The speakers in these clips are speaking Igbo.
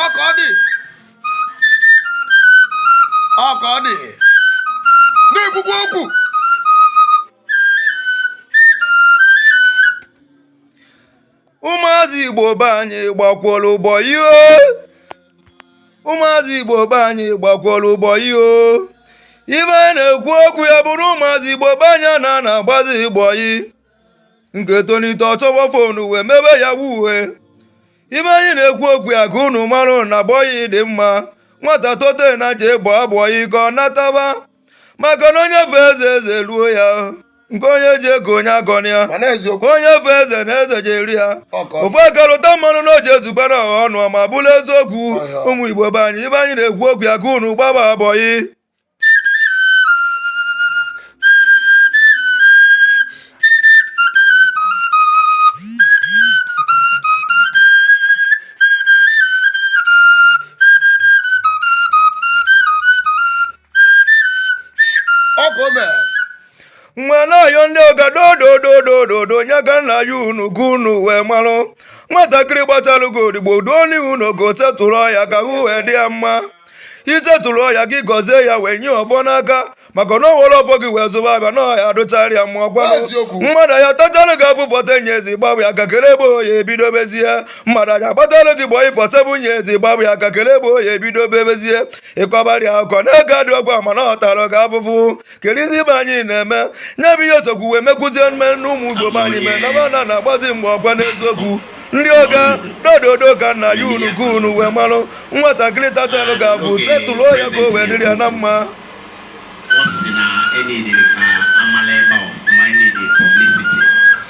ọka ọ dị ọka ọ dị na-ekwukwa okwu ụmụazị igbo be anyị gbakwuola bọyị ụmụazị igbo be anyị gbakwuola bọyị ife anyị na-ekwu okwu ya bụrụ ụmụazị igbo be anyị a na-agbazi bọyị nke tolite ọ chọwa fon wee mebe yahoo ife anyị na-ekwu okwu ya ka unu mara na bọyị dị mma nwata tote nya jee gbaa bọyị ka ọ nataba maka na onye fee eze eze eruo ya nke onye ji eko onye agọna ya mana eziokwu onye fee eze na eze je-eru ya aka ofu aka lụta mmanụ na o je-ezube na ọha ọnụ ma bụrụ eziokwu Ọhịa. ụmụ igbo be anyị ife anyị na-ekwu okwu ya ka unu gbaba bọyị m na-ayọ ndị ọga dodododododo nya ka m na-ayọ unu ka unu wee marụ nwatakịrị gbatalụ gị odibo duo nya ụnọ gị settle ya ka ahụ wee dị ya mma i settle ya gị gọzie ya wee nye ọfọ n'aka maka na o were ọfọ gị wee zụba afịa na ọ ya-adịchara ya mma ọ kwa Eziokwu. mmadụ ya tatalụ gị afụfụ ten years ị gbapụ ya ka kele ebe ọ ya-ebido bezie mmadụ ya gbatalụ gị bọyị for seven years ị gbapụ ya ka kele ebe ọ ya-ebido bebezie ị kọbara ya akụkọ na ego adịrọkwa mana ọ tara gị afụfụ kedụzi ife anyị na-eme nya bụ ihe o sokwu wee mekwuzie mee na ụmụ igbo be anyị mee na fa ana na-agbazi mgbe ọ kwa n'eziokwu ndị ọga dododo ka m na-ayọ unu ka unu wee marụ nwatakịrị tatalụ gị afụfụ settle ya ka o wee dịrị ya na mma ọ sị na a needịrị ka a mala ebe a ọfụma a needị publicity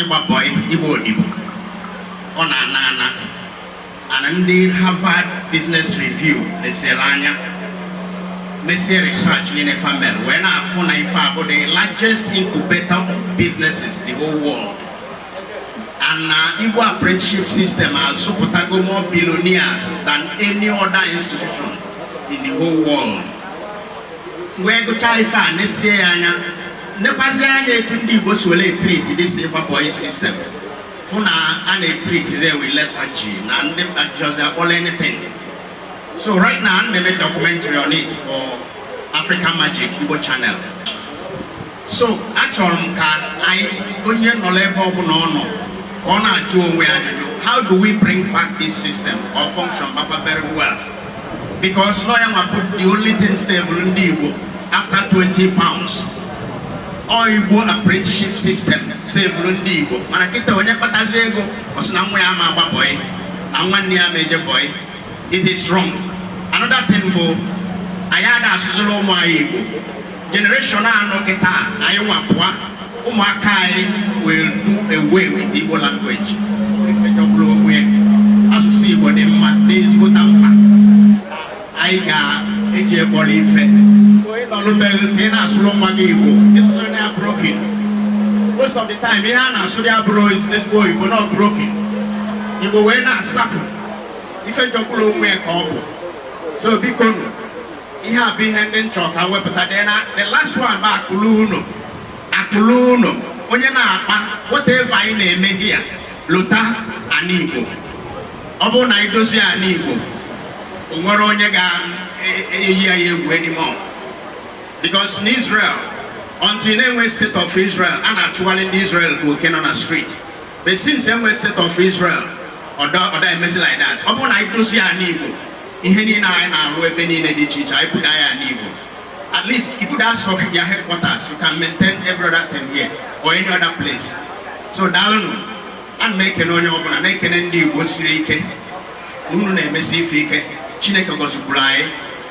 Ịgba bọị, ịgba odibo, ọ na-ana ana and ndị Harvard Business Review lesiri anya mesie research niile fa mere wee na-afụ na ife a bụ the largest incubator of businesses the whole world and na Igbo apprenticeship system azụpụtago more billionaires than any other institution in the whole world wee gụchaa ife a nesie ya anya nekwazị anya etu ndị Igbo si were etreat this ịgba boy system fụ na a na-etreatizi ya wi leta ji na ndị mba ji ọzọ akpọla anything so right now ana m eme documentary on it for African Magic Igbo channel so achọrọ m ka anyị onye nọ n'ebe ọbụla ọ nọ ka ọ na-ajụ onwe ya ajụjụ how do we bring back this system ọ functionbakwa very well because na ya nwa bụ the only thing savelụ ndị Igbo after 20 pounds ọ Igbo apprenticeship system savelụ ndị Igbo mana kịta onye kpatazi ego ọ sị na nwa ya ama agba bọyị na nwanne ya ama eje bọyị it is wrong another thing bụ anyị ada asụzịrị ụmụ anyị Igbo generation a nọ kịta anyị nwa pụa ụmụaka anyị wee do away with Igbo language ife jọgburu onwe ya asụsụ Igbo dị mma dị ezigbote mkpa anyị ga-eji kpọrọ ife ị nọlụ be gị ka ị na-asụrụ nwa gị Igbo ịsụsụrụ ya broken most of the time ihe a na-asụrụ ya abụrọ ezigbo Igbo na broken Igbo wee na-asapụ ife jọgburu onwe ya ka ọ bụ so biko nụ ihe a bụ ihe ndị m chọ ka m wepụta dị na the last one bụ akụ luo ụnọ akụ luo ụnọ onye na-akpa whatever anyị na-eme ya lota ana igbo ọ bụrụ na anyị dozie ana igbo o nwerọ onye ga-eyi anyị egwu anymore because na Israel until na e nwee state of Israel a na-achụgharị ndị Israel ka oke nọ na street but since e nwe state of Israel ọ da emezi like that ọ bụrụ na anyị dozie ana igbo ihe niile anyị na-arụ ebe niile dị iche iche anyị buda ya ana Igbo at least if that sort of their headquarters you can maintain every other thing here or any other place so daalụnụ a na m ekene onye ọbụla na-ekene ndị Igbo siri ike na unu na-emesi ife ike Chineke gọzikwuru anyị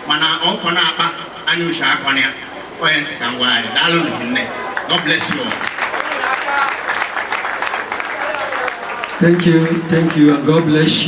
mana ọkọ na-akpa anya uche akọ na ya onye m sị ka m gwa anyị daalụnụ nne God bless you all. Thank you, thank you, and God bless you.